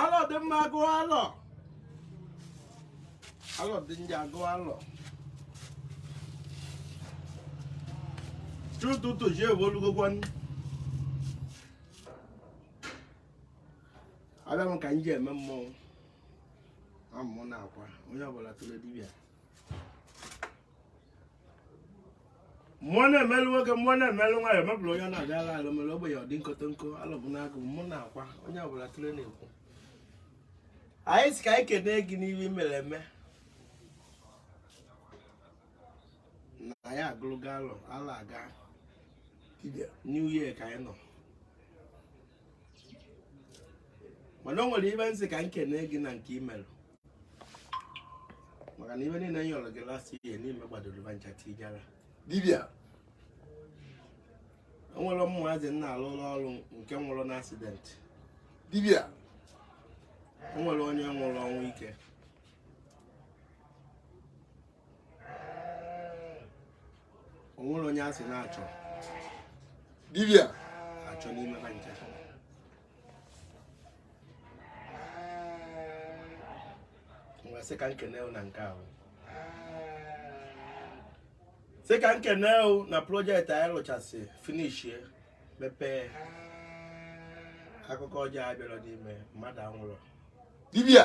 alọ dị mma agụ alọ alọ dị njọ agụ alọ chi ụtụtụ ji ewe olugokwa nri abịa m ka m ji eme mmọnwụ amụ na akwa onye ọbụla tụrụ dibịa mmụọ na-emelụ nwoke mmụọ na-emelụ nwaanyị mebụrụ onye na-abịa ala ala mere ogbenye ọdị nkọtọ nkọ alọbụ n'agụ mmụ na-akwa onye ọbụla tụrụ na-ekwu anyị si ka anyị kene gị n'ihe mere eme na anyị agụlụgo alọ gala aga new year ka anyị nọ mana o nwere ife m sị ka nkene gị na nke i melụ maka na ife niile m yọrọ gị last year na i megbadoro ba ncha tijara dibịa onwerọ ụmụazị na-alụlụ ọrụ nke nwụrụ na accident dibịa onwerọ onye nwụrụ ọnwụ ike onwerọ onye a sị na-achọ dibịa achọ n'ime ha ncha wee sị ka nkene na nke ahụ sị ka nkene na project anyị rụchasị finishie mepee akụkọ ọjọọ abịarọ n'ime mmadụ anwụrọ dibia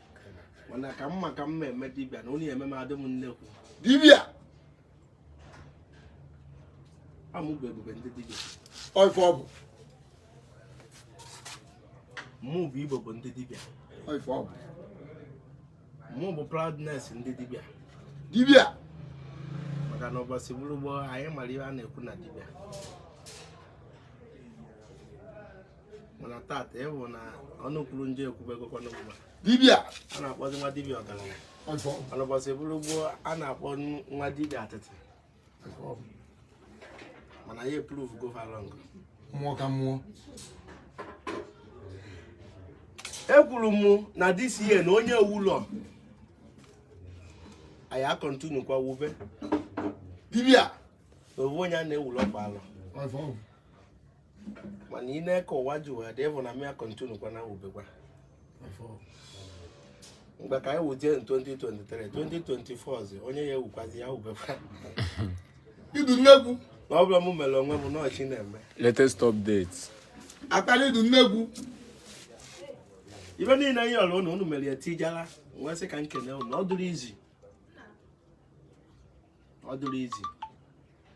mana ka mma ka mma eme dibịa na onye eme m adị m nnekwu dibịa amụgwọ ebube ndị dibịa ọ ife ọ bụ mụ bụ igbo bụ ndị dibịa ọ ife ọ bụ mụ bụ proudness ndị dibịa dibịa maka na ụbọchị bụrụ gboo anyị mara ihe a na-ekwu na dibịa mana tata ị fụ na ọnụ kwuru njọ ekwubegokwana ugbu dibia a na-akpọzi nwa dibia ọgaranya mana ụbọchị bụrụ gboo a na-akpọ nwa dibia atịtị mana ya e-prove go ha wrong mmụọ ka mmụọ ekwuru m na this year na onye ewu ụlọ anyị a-continue kwa wube dibia na owu onye a na-ewu ụlọ kwa alọ mana ị na-eke ụwa ji ụwa dị ịbụ na m ya continue kwa na wubekwa mgbe ka anyị wuje 2023 2024 zi onye ya ewukwazi ya wubekwa idu nnegwu na ọ bụla m mere onwe m n'ọchị na-eme latest update akpara idu nnegwu ife niile anyị yọrọ ụnụ ụnụ mere ya tijara m wee sị ka nkene ụnụ ọ dụrụ izi ọ dụrụ izi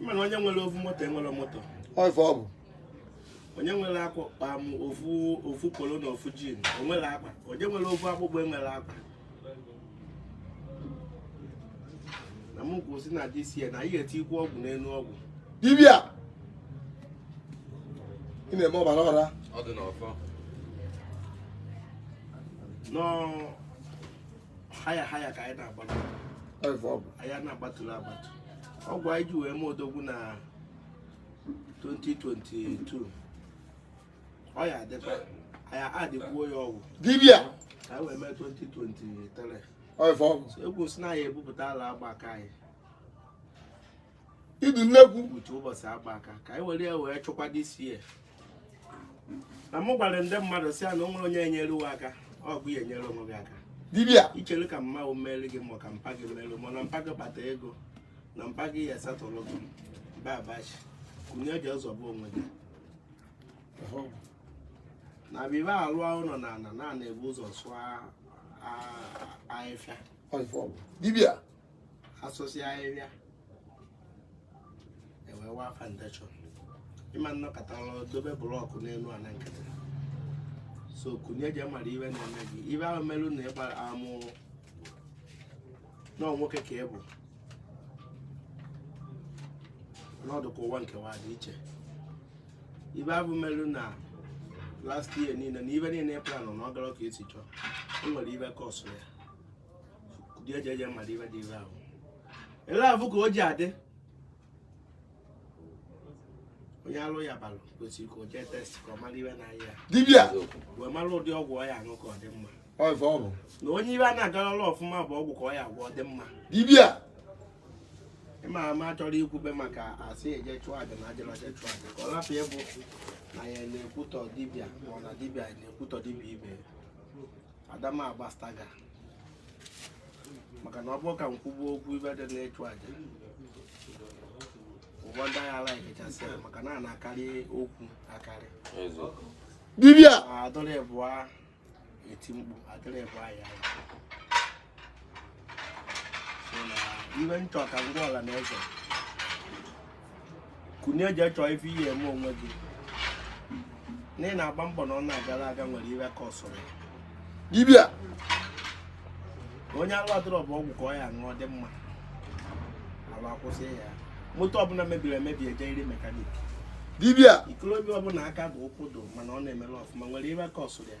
mana onye nwere ofu moto enwere moto Ọ ife ọ bụ. onye nwere akwa kpam ofu ofu polo na ofu jin o nwere akwa onye nwere ofu akpụkpọ enwere akwa na m kwuru si na this year na anyị ga-etikwu ọgwụ n'elu ọgwụ Dibịa. Ị na-eme ọbara ọra. Ọ dị n'ọfọ. nọọ higher higher ka anyị na-agba anyị na-agbatụla agbatu ọgwụ anyị ji wee mee odogwu na 2022 ọ ya adịkwa anyị adịkwuo ya ọgwụ dibia ka anyị wee mee 2023 ekwu si na anyị ebupụtala agba ka anyị idu nnukwu uche ụbọchị agba aka ka anyị were ya wee chụkwa this year na mụ gwara ndị mmadụ si ya na o nwere onye enyere uwe aka ọ bụ ya enyere onwe gị aka dibịa ichere ka mma o mere gị ma ka mpa gị mere ma na mpa gị kpata ego na mpa gị ya satọrọ gị mba abachi kunie je zọpụ onwe gị na bibe alụ ụlọ na a na na a na-ebu ụzọ sụọ a- a- ahịhịa dibịa a sụsịa ahịhịa e wee waa foundation ị ma nọkatara dobe blọkụ n'elu ala nkịtị so kunie je mara ife na-eme gị ife ahụ merụ na ị gbara amụ nọọ nwoke ka ị bụ na ọ dị ka ụwa nkewa dị iche ife ahụ merụ na last year niile na ife niile ị planụ na ọ garọ ka i si chọọ o nwere ife kọsụ ya dị eje eje mmadụ ibe dị ibe ahụ ele afụ ka o ji adị onye ọrịa balụ kwesịrị ka o jee test ka ọ mara ife na-aya ya dibịa wee mara ụdị ọgwụ ọ ya-aṅụ ka ọ dị mma ọ ife ọ bụ na onye ife a na-agarala ọfụma bụ ọgwụ ka ọ ya-agwọ ọ dị mma dibịa ịma ama chọrọ ikwube maka asị eje chụọ aja na ajala je chụọ aja ka ọ lapụ ya bụ na ya na-ekwutọ dibịa ma ọ na dibịa na-ekwutọ dibịa ibe ya adama agbastaga maka na ọ bụrụ ka m kwube okwu ife dị n'ịchụ aja ugbua ndị agha ala ekechasị ya maka na a na-akarị okwu akarị eziokwu dibịa adịrị bụa e tie mkpu adịrị bụa ya so na ife m chọ ka m gwa ọra na eze kunie je chọọ ife ị ya-eme onwe gị na ị na-agba mbọ na ọ na-agara aga nwere ife kọsụrụ dibịa onye ala dọrọ bụ ọgwụ ka ọ ya-aṅụ ọ dị mma ala akwụsị ya moto ọbụla mebiri emebi ejeriri mekanik dibịa ikolobịa ọbụla aka dị ụkwụ dụ mana ọ na-emerọ ọfụma nwere ife kọsụrụ ya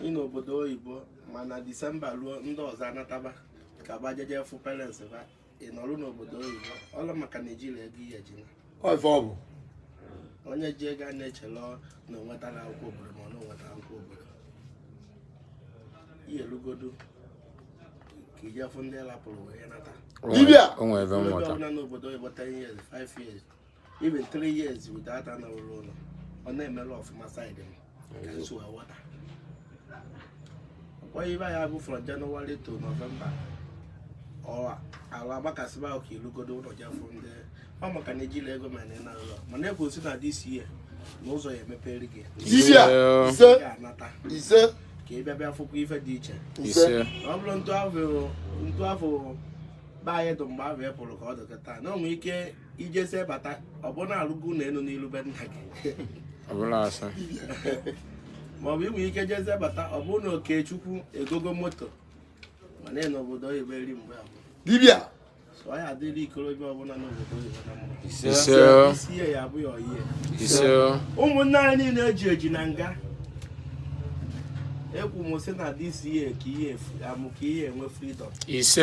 ị n'obodo oyibo mana Disemba luo ndị ọzọ anataba ka ba jeje fụ parents ba ị nọrụ n'obodo oyibo ọlụ maka na i jirọ ego i ye-eji naa Ọ ife ọ bụ onye ji ego a na-echele na o nwetara akwụkwọ obodo ma ọ na o nweta akwụkwọ obodo i ye-elugodu ka i je fụ ndị ị lapụrụ wee nata Dibịa! o nwere ebe Onye mmụta ọbụla n'obodo oyibo 10 years 5 years even three years without anaghị ruo ụlọ ọ na-emere ọfụma side m ka nso aghọta ọkpọghị ibe ya bụ from January to November ọ ala agbakasịba ahụ ka i lugodo ụlọ je fụ ndị ọ maka na ejilọ ego ma na ụlọ mana ekwu sị na this year na ụzọ ya-emepere gị Isi a, Yeah. ise, ị ga-anata ise, ka ị bịa bịa fụkwa ife dị iche ise. Ise. na ọ bụrọ etu afụ etu afụ be anyị dụ mgbe ahụ ị pụrụ ka ọ dị kịtaa na o nwere ike i jezie bata ọ bụ na alụgo ụlọ elu n'ilu be nna gị maọbụ i nwe ike jezie bata ọ bụ na Okechukwu egogo moto ma na n'obodo oyibo eri mgbe abụọ dibịa so ọ ya-adịrị okorobịa ọbụla n'obodo oyibo na mma ise ihe ya abụghị ọyie ụmụnne anyị niile eji eji na nga ekwu m sị na this year ka ihe efu amụ ka i ye-enwe freedom ise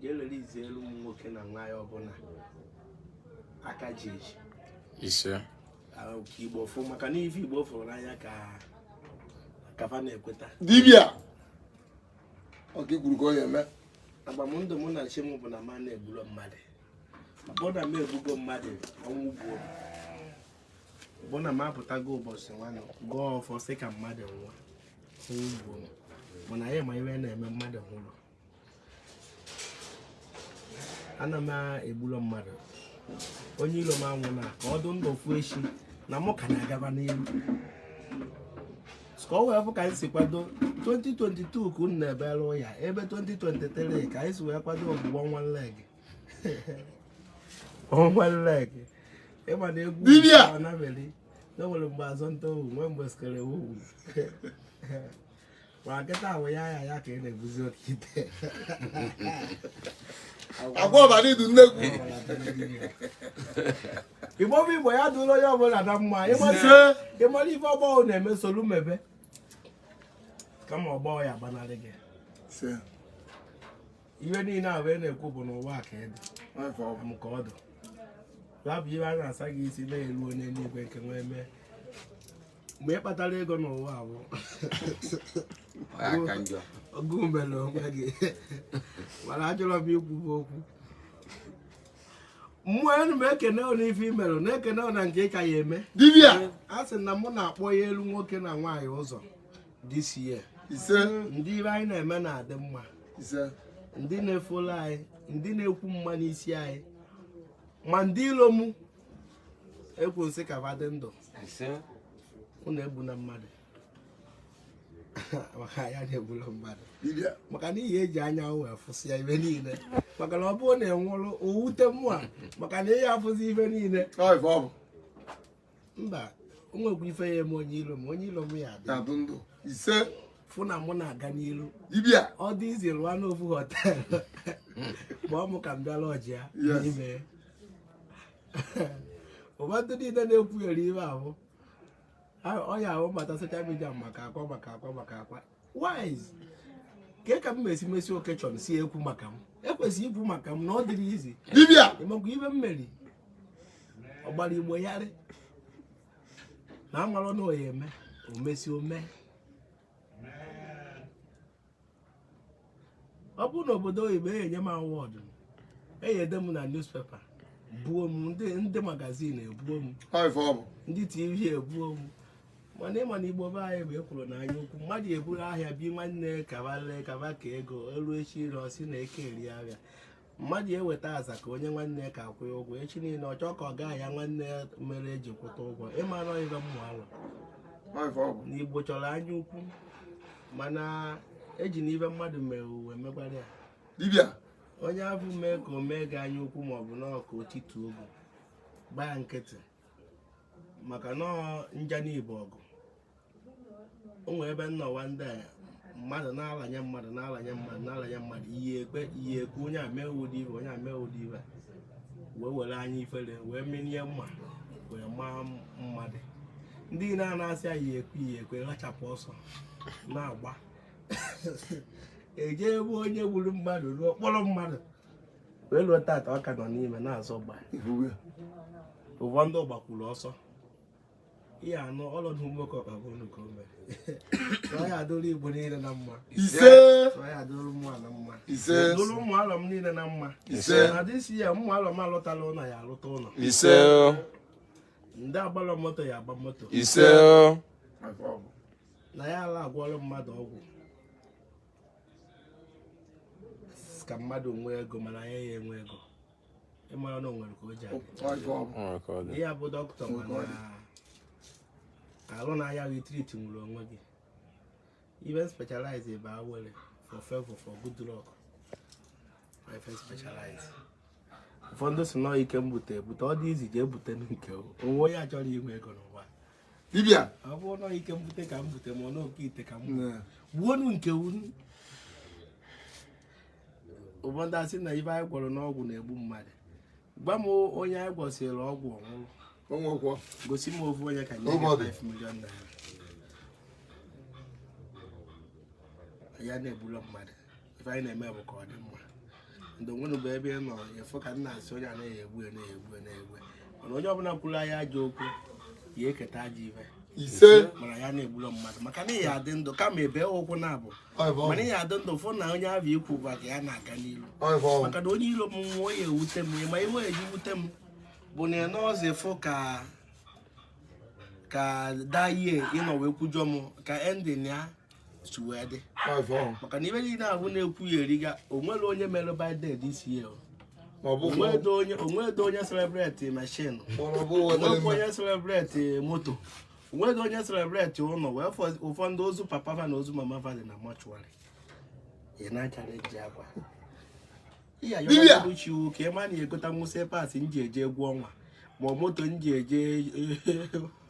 ga-elere izi elu ụmụ nwoke na nwaanyị ọbụla a ka ji eji ise ka Igbo fụ maka na ife Igbo fụrụ n'anya ka fa na-ekweta dibịa ọ ka i kwuru ka ọ ya-eme agba m ndụ mụ na chi m bụ na mụ ana-egburo mmadụ ọ bụrụ na m egbugo mmadụ ọnwụ gbuo bụ na m apụtago ụbọchị nwanụ gọọ ọfọ sị ka mmadụ nwụọ o gbuo m mana anyị ma ihe na-eme mmadụ nwụrụ ana m egburo mmadụ onye ilo m anwụna ka ọ dụ ndụ ọ fụ echi na mụ ka na-agaba n'ilu ka ọ wee fụ ka anyị si kwado 2022 ka unu na-ebere ya ebe 2023 ka anyị si wee kwado ọgbụgbọ one leg dibịa na enwere mgbe azọ nta ohu nwee mgbe skere ohu ma nkịta ahụ ya ya ya ka ị na-ebuzi oke ite agwa ọbara idu nnegwu Igbo bụ Igbo ya dụrụ onye ọbụla na mma ị mara ife ọgbọ gị na-eme solu mebe kama ọgbọ gị ya-agbanarị gị ihe niile a wee na-ekwu bụ n'ụwa ka ị dị m ka ọ dị ya bụ ihe a na-asa gị isi na-elu onye n'igwe nke nwee mee mgbe ị kpatara ego n'ụwa bụ ọgụ mere onwe gị mana ajụrọ m ikwu bụ okwu mmụọ enu m ekene ụlọ ife i merụ na-ekene ụlọ nke ị ka ya eme a sị na mụ na-akpọ ya elu nwoke na nwaanyị ụzọ this year ise ndị ife anyị na-eme na-adị mma ise ndị na-efolo anyị ndị na-ekwu mma n'isi anyị ma ndị ilo mụ ekwu nsị ka ba dị ndụ ise unu egbuna mmadụ maka ya na-egbula mmadụ dibịa maka na ị ya eji anya wee fụsịa ife niile maka na ọ bụrụ na ị nwụrụ o wute mụa maka na ị ya afụzi ife niile ọ ife ọ bụ mba o nwekwa ife ya eme onye ilo m onye ilo m ya abịa na-adị ndụ ise fụ na mụ na-aga n'iru dibịa ọ dị easy lụọ n'ofu hotel kpọọ m ka m bịa lodge ya Yes. n'ime ya. ụba ndị niile na-ekwughere ife ahụ ọ ya ahụ mata social media maka akwa maka akwa maka akwa wise ka ka m mesi mesi occasion si ekwu maka m ekwesịrị ikwu maka m na ọ dịrọ easy dibịa ịmakwa ife m mere ọ gbara igbo yarị na amalụ na ọ ya eme omesi ome ọ bụrụ na obodo oyibo e enye m award eyede m na newspaper buo m ndị ndị magazine ebuo m Ọ ife ọ bụ. ndị tv ebuo m mana ịma na igbo be anyị bụ ekworo na anya ukwu mmadụ eburu ahịa bi nwanne ka ba lee ka ba kee ego elu echi niile ọ sị na eke eri ahịa mmadụ eweta aza ka o nye nwanne ya ka akwụ ya ụgwọ echi niile ọ chọọ ka ọ gaa ya nwanne ya mere eji kwụta ụgwọ ịmara ife mmụ alụ na igbo chọrọ anya ukwu mana eji na ife mmadụ mere wee mekwara ya dibịa onye afụ mee ka o mee gị anya ukwu maọbụ na ọka otituo bụ gbaa nkịtị maka na nja n'igbo ọgụ o nwere ebe nnọwa ndị a mmadụ na-alanye mmadụ na-alanye mmadụ na-alanye mmadụ iyi ekpe iyi ekwe onye a mee ụdị ife onye a mee ụdị ife wee were anya ifere wee menie mma wee maa mmadụ ndị niile a na-asị iyi ekwe iyi ekwe rachapụ ọsọ na-agba eje ebe onye gburu mmadụ ruo kpọrọ mmadụ wee ruo tata ọ ka nọ n'ime na-azọ gba ụfọdụ ndị gbakwuru ọsọ ihe anụ ọlọdụ nwoke ọkpa bụ unu ka o mere ọ ya adịrị igbo niile na mma ise ọ ya adịrị ụmụ ala mma ise adịrị ụmụ ala m niile na mma ise na dịsi ya ụmụ ala m alụtarọ ụlọ ya alụta ụlọ ise ndị agbarọ moto ya agba moto ise na ya ala agwọrọ mmadụ ọgwụ ka mmadụ nwee ego mana anyị ya enwe ego ịmara na onwere ka o ji adị ya bụ doctor mana arụ na-aya ị treat nwurọ onwe gị ife m specialize bụ awele for favor for good luck ọ ife m specialize ụfọdụ sị na ọ ike m bute ebute ọ dị easy jee bute nke onwe onye achọrọ inwe ego n'ụwa dibịa ọ bụrụ na ike mbute ka m bute ma ọ na oke ite ka m gbuonu nke unu ụfọdụ asị na ife anyị gwọrọ n'ọgwụ na-egbu mmadụ gwa m onye anyị gwọsịrị ọgwụ ọ nwụọ onwekwọ gosi m ofu onye ka m nye ya Nobody. 5 million naira ya na-egburo mmadụ ife anyị na-eme bụ ka ọ dị mma ndị onwere bụ ebe ị nọ efu ka nna asị onye anaghị egbu ya na-egbu ya na-egbu ya mana onye ọbụla kwuru anyị ajọ okwu ya eketa ajọ ife ise mana ya na-egburo mmadụ maka na ị ya adị ndụ kama ebe ụkwụ na-abụ ọ bụ mana ị ya adị ndụ fụ na onye ahụ ikwu gwa ka ya na-aga n'iru ọ bụ ọ bụ maka na onye iro m nwụọ ọ na-ewute m ma ife o ji ewute m bụ na nọọsụ fụ ka ka daye ịnọ wee kwujọ m ka ending ya si wee dị maka na ife niile ahụ na-ekwu ya eriga onwere onye mere birthday this year o. Ma ọ bụ onwedo onye onwedo onye celebrate machine kpọrọ bụ wetara onwekwa mma. onye celebrate moto onwedo onye celebrate ụnọ wee fọ ụfọdụ ozu papa fa na ozu mama fa dị na mortuary ị na-achange akwa ihe Dibịa. ayọrọ Chukwu ka ị ma na ya egotanwu slippers m ji eje egwu ọnwa ma ọ moto m ji eje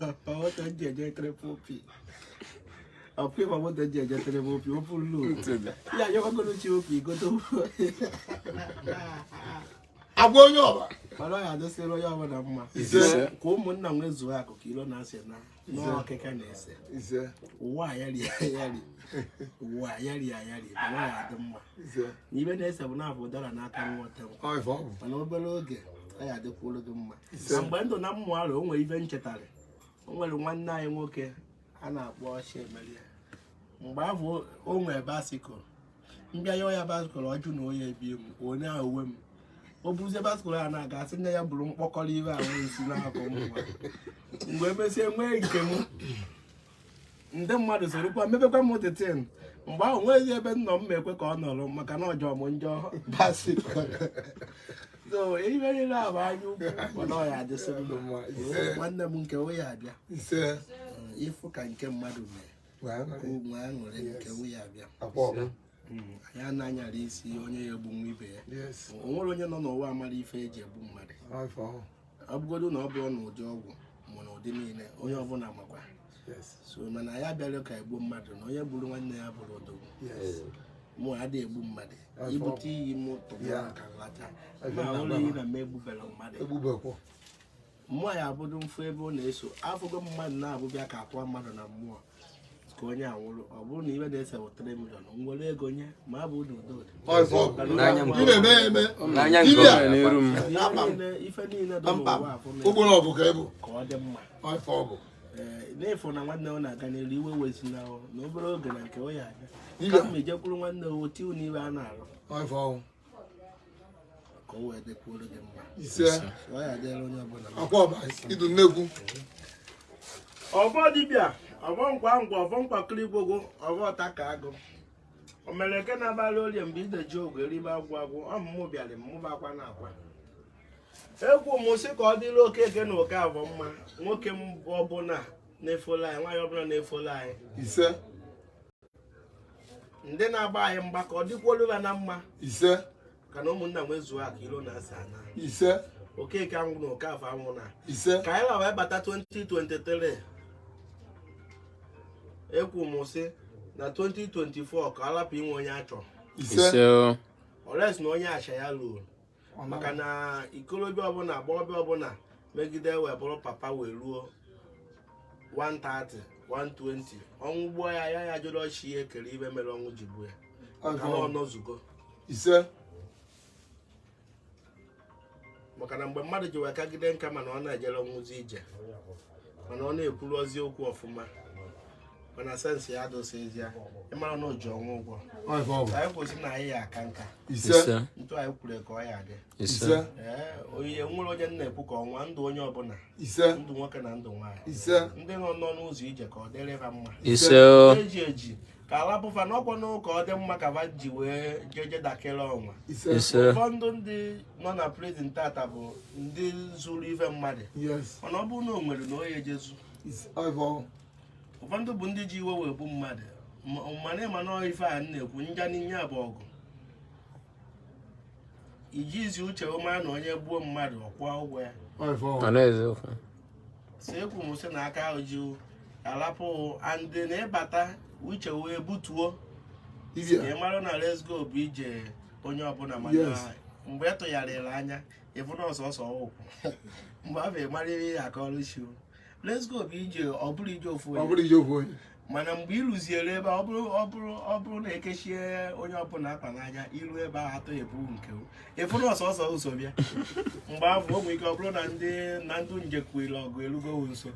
ma moto m ji eje triple p ọkwa ịma moto m ji eje triple p opu lu ya ayọrọ Chukwu ka igote agwa onye ọba mana ọ ya adịsịrị onye ọbụla mma Ise. ka ụmụnna nwezuo akụ ka ilo na asị naa n'ọkịka na-ese ise ụwa ayari ayari ụwa ayari ayari ma nwaanyị adị mma ise na ife na-ese bụ na afụ ụdara n'aka nwata nwa ọ ife ọ bụ mana obere oge ọ ya adịkwuru gị mma na mgbe ndụ na mmụ alụ o nwere ife m chetara o nwere nwanne anyị nwoke a na-akpọ Chiemerie mgbe ahụ o nwere bicycle m bịa yọọ ya bicycle ọ jụ na ọ ya ebie m onye ahụ uwe m o buruzie bicycle a na-aga asị nne ya bụrụ mkpọkọrọ ife ahụ esi n'akụ m nwa mgbe emesịa nwee nke m ndị mmadụ sorokwa mebekwa m that thing mgbe ahụ nweghị ebe nọ m ekwe ka ọ nọrọ maka na ọ jọrọ m njọ basi so ihe niile a bụ anya ukwu mana ọ ya adịsị ndụ nwanne m nke o ya abịa ise ịfụ ka nke mmadụ mee ya na-anyara isi onye ya egbu nwa ibe ya o nwere onye nọ n'ụwa amarọ ife eji egbu mmadụ ọ bụgodu na ọ bụrụ na ụdị ọgwụ ma na ụdị niile onye ọbụla makwa so mana anyị abịarọ ka egbuo mmadụ na onye gburu nwanne ya abụrọ odogwu mụ adịghị egbu mmadụ ibute iyi m tụrụ ka m lachaa m ṅụọ iyi na m egbuberọ mmadụ mmụọ ya abụdụ mfu ebe ọ na-eso afụgo mmadụ na-abụbịa ka akwa mmadụ na mmụọ ka onye awụrụ ọ bụrụ na iwe na-ese wetara milion nwere ego nye ma abụ ụdị ụdị ụdị ọzọ N'anya m. ị na-eme ya eme N'anya nke Dibịa. ọbụla n'iru m. Akpa m. Niile- ife niile dị n'ụwa Kpamkpam. afụ na- ụgbọrọ ọgụ ka ịbụ ka ọ dị mma ọfọ ọgụ Ee, n'efu na nwanne ọ na-aga n'elu iwe wezina ọ na obere oge na nke ọ ya aga Dibịa. kama ijekwuru nwanne o tiu n'ibe a na-arụ ọfọ ọgụ ka o wee dịkwuoro gị mma ise ọ ya adịrị onye ọbụla mma. akwa ọba idu nnekwu ọbọ dibịa ọbọ nkwa ngwa ọbọ nkwakịrị igbogo ọbọ ọta ka agụ o mere nke na-abalị orie mgbe ide ji ogwe eribe agwụ agwụ ọmụmụ bịara mmụba akwa na akwa ekwu m sị ka ọ dịrị okeke na okafọ mma nwoke m ọbụla na-efollow anyị nwaanyị ọbụla na-efollow anyị ise ndị na-agba anyị mgba ka ọ dịkwuolu ha na mma ise ka na ụmụnna nwezuo akụ ilo na asị anaa ise okeke anwụna okafọ anwụna ise ka anyị la wee bata 2023 ekwu m sị na 2024 ka ọ lapụ inwe onye a chọ ise ise unless na onye acha ya ruo maka na ikolobịa ọbụla agbọghọbịa ọbụla megide wee bụrụ papa wee ruo 130 120 ọnwụ gbuo ya ya ya jụrụ chi ya kere ife mere ọnwụ ji gbuo ya maka na ọ nọzugo ise maka na mgbe mmadụ ji wee kagide nka mana ọ na-ejerọnwuzi ije mana ọ na-ekwurọzi okwu ọfụma mana sense ya adịsịzi ya ị mara na o ji ọnwụ ụgwọ anyị kwusị na anyị ya aka nka etu anyị kwuru ka ọ ya adị onye nwere ọjị na-ekwu ka ọ waa ndụ onye ọbụla ndụ nwoke na ndụ nwaanyị ndị nọ n'ọnụ ụzọ ije ka ọ dịrị ha mma eji eji ka a lapụ fa n'okwu na ụka ọ dị mma ka va ji wee jeje dakere ọnwa ise ise ụfọdụ ndị nọ na prison tata bụ ndị zuru ife mmadụ yes mana ọ bụrụ na o nwere na onye ejezu ise ọbụ ụfọdụ bụ ndị ji iwe wee gbu mmadụ Ma- mana ị ma na ife a m na-ekwu nja n'inye bụ ọgụ iji ezi uche ọ ma na onye gbuo mmadụ ọ kwụọ ụgwọ ya ọbụ mana eziokwu si ekwu m sị na aka ahụ ji alapụ andị na ịbata uche wee butuo Ije. ị mara na let's go bụ ije onye ọbụla mana Yes. mgbe ị tụgharịrị anya ị fụ na ọ sọsọ ị kwụ mgbe ahụ ị mara ihe a kọrọ sị let's go bụ ije ọ bụrụ ije ofu Ọ onye bụrụ ije ofu onye. mana mgbe ị ruziri ebe ọ bụrụ ọ bụrụ ọ bụrụ na ekechie onye ọbụla akpa n'anya iru ebe ahụ atọ ebu nke ị fụrụ ọsọsọ ụzọ bịa mgbe ahụ o nwere ike ọ bụrụ na ndị na ndị njekwuere ọgụ erugo nso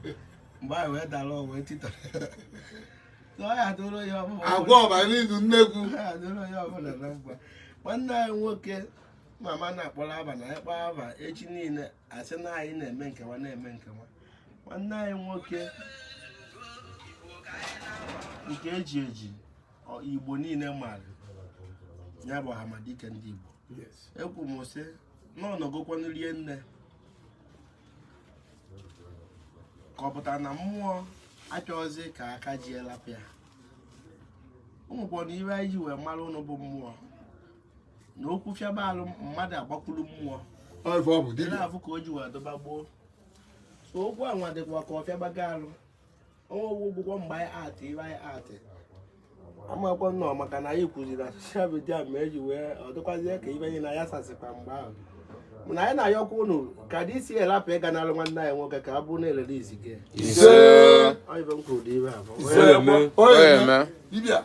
mgbe ahụ wee dara ọgụ wee titọrọ agwụ ọba n'idu nnekwu nwanne anyị nwoke mama na-akpọrọ aba na ịkpọ aba echi niile a sị na anyị na-eme nkewa na-eme nkewa nwanne anyị nwoke nke eji eji igbo niile maara ya bụ amadike ndị igbo ekwu m sị na ọ nọgokwanụ rie nne ka ọ pụtara na mmụọ achọghịzi ka aka ji elapịa ụmụkpọrọ ife anyị ji wee mara unu bụ mmụọ na okwu fịaba alụ mmadụ agbakwulu mmụọ Ọ ife ọ bụ dị dibịa. na-afụ ka o ji wee dịba gboo so okwu a nwa dịkwa ka ọ fịabago alụ ọnwa ogwu gwụkwọ mgbe anyị atị ibe anyị atị amakwa nnọọ maka na anyị kwuziri na social media ma eji wee ọ dịkwazie ka ibe anyị na ya sasịkwa mgbe ahụ mana anyị na-ayọkwa unu ka dị isi elapụ ịga n'alụ nwanne anyị nwoke ka a bụrụ na elere izi gị Ise. ọ ife m kwuru dị ibe a bụ Ise. Onye eme. Onye eme. Dibịa.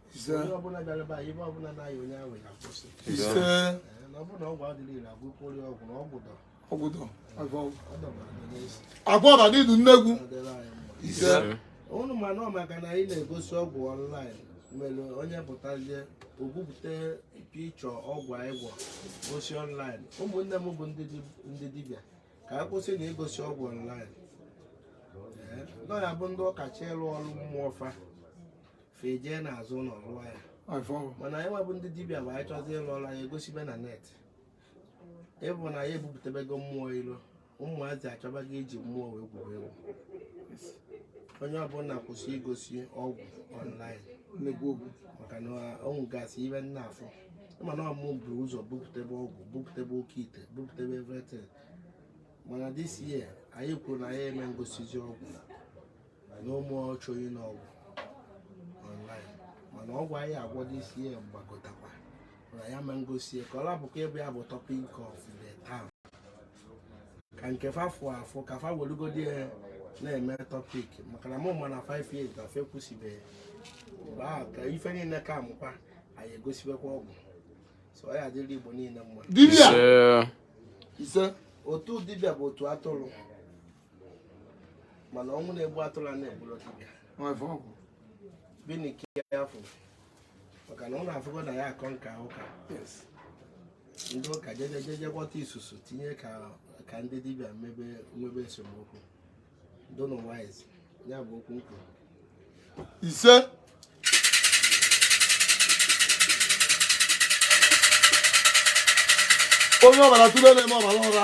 ise onye ọbụla bịara be anyị ife ọbụla na-aya onye ahụ ya kwụsị ise Ee, na ọ bụrụ na ọgwụ adịrị ire agwụ kwụrụ ya ọgwụ na ọgwụ dọ ọgwụdọ agwọ ọ dọbara gị n'isi agwụ ọba n'idu nnekwu ọ dịrị anyị mma ise unu ma na ọ maka na anyị na-egosi ọgwụ online mere onye pụtazie o bupụta picture ọgwụ anyị gwọ gosi online ụmụnne m bụ ndị dib- ndị dibịa ka a kwụsị na igosi ọgwụ online na ọ ya bụ ndị ụka chọ ịrụ ọrụ mmụọ fa fa ejee n'azụ ụlọ rụọ ya afọ mana anyị nwa bụ ndị dibịa bụ anyị chọzi ịlụ ọrụ anyị egosibe na net ị fụ na ya ebupụtabego mmụọ ilo ụmụazị achọbago iji mmụọ wee gwuo egwu onye ọbụla kwụsị igosi ọgwụ online nnekwu okwu maka na o nwegasị ife m na-afụ ị ma na ọ mụ bu ụzọ bupụtebe ọgwụ bupụtebe oke ite bupụtebe everything mana this year anyị kwuru na anyị ama ngosizi ọgwụ na mụ achọghị n'ọgwụ online mana ọgwụ anyị agwọdo isi ya mgbagotakwa na ya ma ngosi ya ka ọ lapụkwa ịbụ ya bụ topic of the town ka nke fa fụ afụ ka fa welugodi ya na-eme topic maka na mụ ma na 5 years gafe kwụsịbeghị mgbe ahụ ka ife niile ka amụkwa anyị egosibekwa ọgwụ so ọ ya adịrị igbo niile mma dibịa Ise. ise otu dibịa bụ otu atụrụ mana ọnwụ na-egbu atụrụ a na-egburu dibịa binie ka a fụ maka na unu afụgo na ya akọ nka ụka ndị ụka jejejeje bute isusu tinye ka ndị dibịa mebe nwebe esemokwu dịnụ wise ya bụ okwu m ise onye ọbara tụrụ na-eme ọbara ụra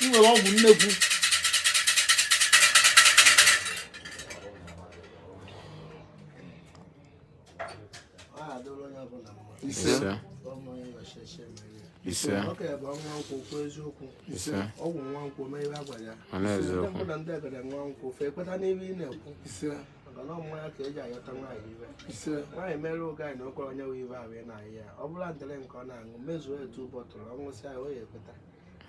ị nwere ọgwụ nnekwu ise ise ise mana mmanya ka eji ayọta nwaanyị iwe nwaanyị mere oge anyị na okwere onye nwe ibe ahụ ị na-ahụ ya ọ bụla ndịrị nke ọ na-aṅụ mezuo etu bọtụlụ ọ ṅụsịa ya o ya ekweta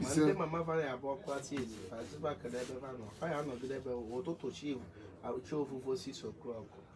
ma ndị mama fara ya bụ ọkụ ati ezi faziba kele ebe fa nọ fa ya anọgide ebe ụtụtụ chi chi ofufo osisi okrọkụ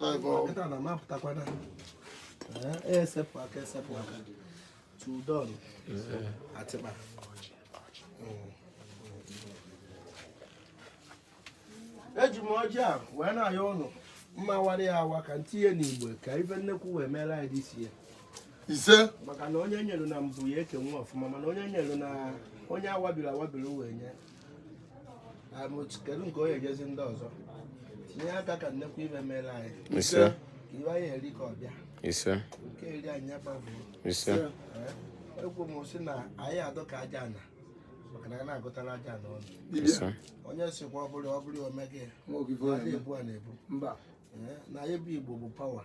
nkịta na mapụtakwana esepụ aka esepụ aka tudon atịkpa eji m ọjị a wee na-ayọ ụnụ mma wara ya awa ka ntinye n'igbo ka ife nnekwu wee mere anyị dị sie ise maka na onye nyere na mbụ ya ekenwe ọfụma mana onye nyere na onye awabiri awabiri wee nye kedu nke onye ejezi ndị ọzọ tinye aka ka nnekwu ife mere anyị ise ife anyị eri ka ọ bịa ise nke eri anyị nya gbafụ ise ekwu m sị na anyị adọ ka aja ana maka na a na-agụtara aja ana ọnụ onye sikwa ọ bụrụ ọ bụrụ omege ebu a na-ebu na anyị bụ igbo bụ pawa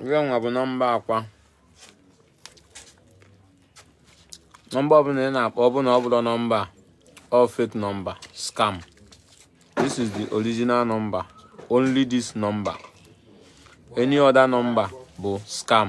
Ife nwa bụ number akwa number ọbụla ị na-akpọ ọbụla ọ bụrọ number ọ fake number scam this is the original number only this number any other number bụ scam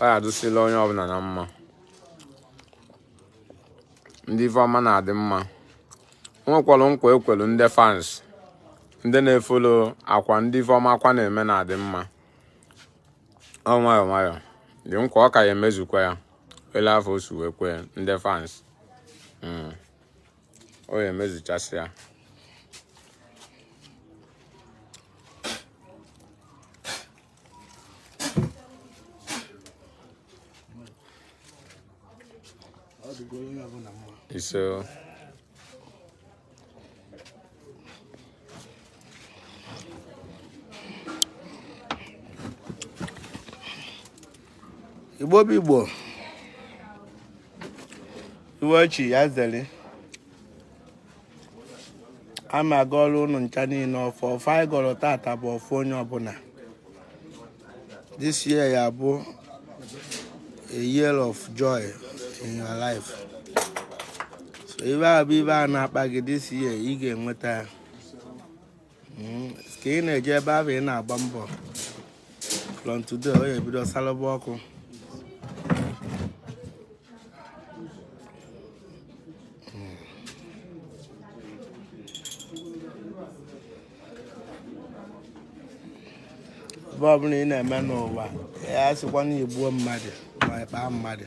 ọ ya adụsịla onye ọbụla na mma ndị ife ọma na-adị mma nwekwara nkwa e kwelu ndị fans ndị na-efolo akwa ndị ife ọma akwa na-eme na-adị mma ọ nwayọ nwayọ dị nkwa ọ ka ya emezukwa ya ele afụ o si wee kwee ndị fans mm. ọ ya emezuchasị ya ise igbo bụ igbo iwe chi ya zere ana m agọrọ ụnụ ncha niile ọfọ ọfọ anyị gọrọ tata bụ ọfọ onye ọbụla this year ya bụ a year of joy in your life so ife bụ ife na-akpa gị this year ị ga-enweta ya Hmm, ka ị na-eje ebe ahụ ị na-agba mbọ from today ọ ya-ebido salụba ọkụ ife ọbụla ị na-eme n'ụwa asịkwa na igbuo mmadụ ma ịkpaa mmadụ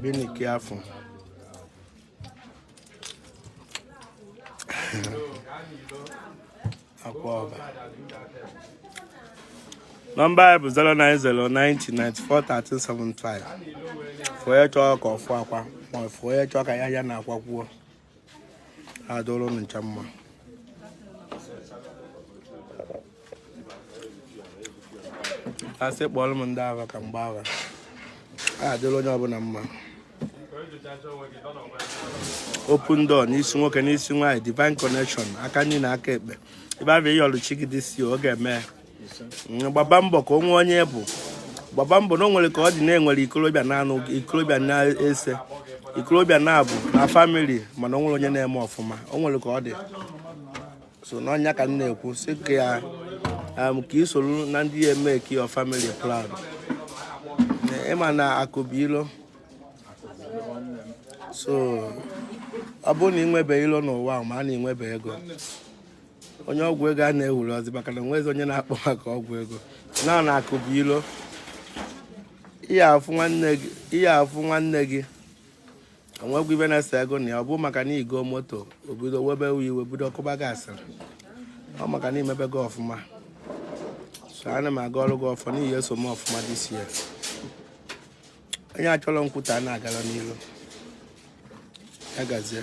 Bịanụ ka ị fụ Akwa Ọba. Nọmba anyị bụ 09090941375. For onye chọọ ka ọ fụ Akwa ma ọ for onye chọọ ka ya ya na Akwa kwuo. adịrị ụnụ ncha mma asị kpọrọ m ndị agha ka mgbe agha a adịrị onye ọbụla mma open door n'isi nwoke n'isi nwaanyị divine connection aka nri na aka ekpe ife bụ ife ị yọlụ chi gị this year ọ ga-eme ya gbaba mbọ ka o nwee onye ị bụ gbaba mbọ na o nwere ka ọ dị na enwere ikolobịa n'anọ ikolobịa n'ise ikolobịa naabọ na family mana o nwere onye na-eme ọfụma o nwere ka ọ dị so ọ nya ka m na-ekwu sị ka ya um, ka i soro na ndị ya-make your family proud ị ma na akụ bụ ilo so ọ bụrụ na ị nwebe ilo n'ụwa ma na ị nwebe ego onye ọgwụ ego a na-ewuru ọzọ maka na enwezi onye na-akọ maka ọgwụ ego na na akụ bụ ilo ị ya-afụ nwanne gị ị ya-afụ nwanne gị o nweghị ife na-ese gị na ya ọ bụ maka na ị goo moto o bido webe iwe bido kụba gị asịrị ọ maka na ị mebego ọfụma so ana m agọrọ gị ọfọ onye so eme ọfụma this year onye achọrọ nkwuta na-agara n'iru ya gazie